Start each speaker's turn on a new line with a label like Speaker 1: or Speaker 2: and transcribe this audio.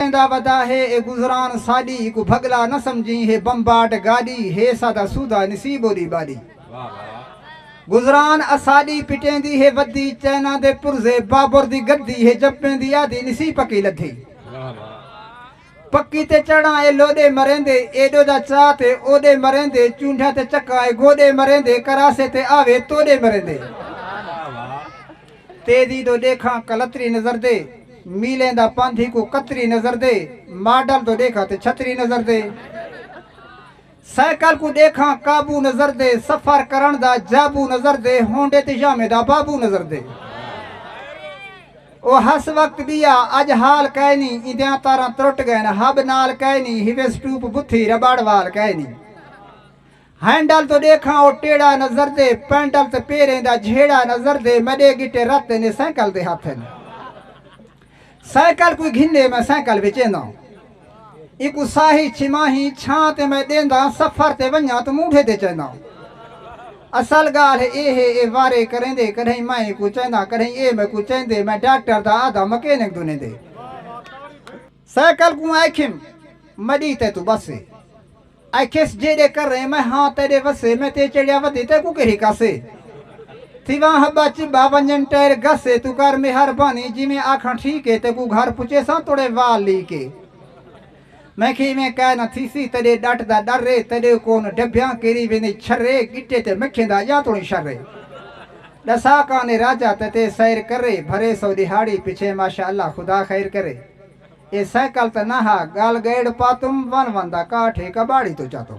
Speaker 1: ویندا ودا ہے اے گزران ساڈی ایکوں بھگلا نہ سمجھیں ہے بمباٹ گاڈی ہے ساڈا سودھا نصیب اوڈی باڈی گزران اساڈی پٹیندی ہے ودی چینا دے پرزے بابر دی گدی ہے جپیندی آدھی نسی پکی لدھی پکی تے چڑھاں اے لوڈے مریندے ایڈو دا چا تے اوڈے مریندے چونڈھا تے چکاں اے گوڈے مریندے کراسے تے آوے توڈے مریندے تیزی توں ݙیکھاں کلتری نظر دے میلیں دا پندھ ہیکوں قطری نظر دے ماڈل توں ݙیکھاں تے چھتری نظر دے سائیکل کوں ݙیکھاں قابو نظر دے سفر کرݨ دا جابو نظر دے ہونڈے تے یامیں دا بابو نظر دے او ہس وقت ٻیا اڄ حال کائے نی ایندیاں تاراں ترٹ ڳئن ہب نال کائے نی ہیوے سٹوپ بتھی ربڑ وال کائے نی ہینڈل توں ݙیکھاں او ٹیڑھا نظر دے پینڈل تے پیریں دا جھیڑا نظر دے میݙے گٹے رت ایندے سائیکل دے ہتھ ہن سائیکل کوئی گھندے میں سائیکل وچینداں ایکو ساہی چھماہی چھاں تے میں ݙینداں سفر تے ونجاں تو مونڈھے تے چینداں اصل گالھ اے ہے اے وارے کریندے کڈھیں میں ایکو چینداں کڈھیں اے میکو چیندے میں ڈاکٹر دا آدھا مکینک دو نیندے سائیکل کوں آکھیم مڈی تے توں بسے۔ آکھیس جیڈے کریں میں ہاں تیڈے وسے میں تے چڑھیا ودی تیکوں کیڑھی کسے۔ تھیواں ہبا چبا ونجن ٹیر گسے توں کر میہر بانی جیویں آکھاں ٹھیک اے تیکوں گھر پچیساں توڑے وال لی کے۔ میں کھی ایویں کائے نہ تھیسی تیڈے ڈٹ دا ڈر اے تیڈے کون ڈبھیاں کیری ویندے چھرے گٹے تے مکھیں دا اجاں توڑیں شر اے۔ ڈسا کانے راجہ تتے سیر کرے بھرے سو ڈیہاڑی پچھے ماشاء اللہ خدا خیر کرے اے سائیکل تاں نہ ہا گل گئیڑ پاتم ون ون دا کاٹھ اے کباڑی توں چاتم۔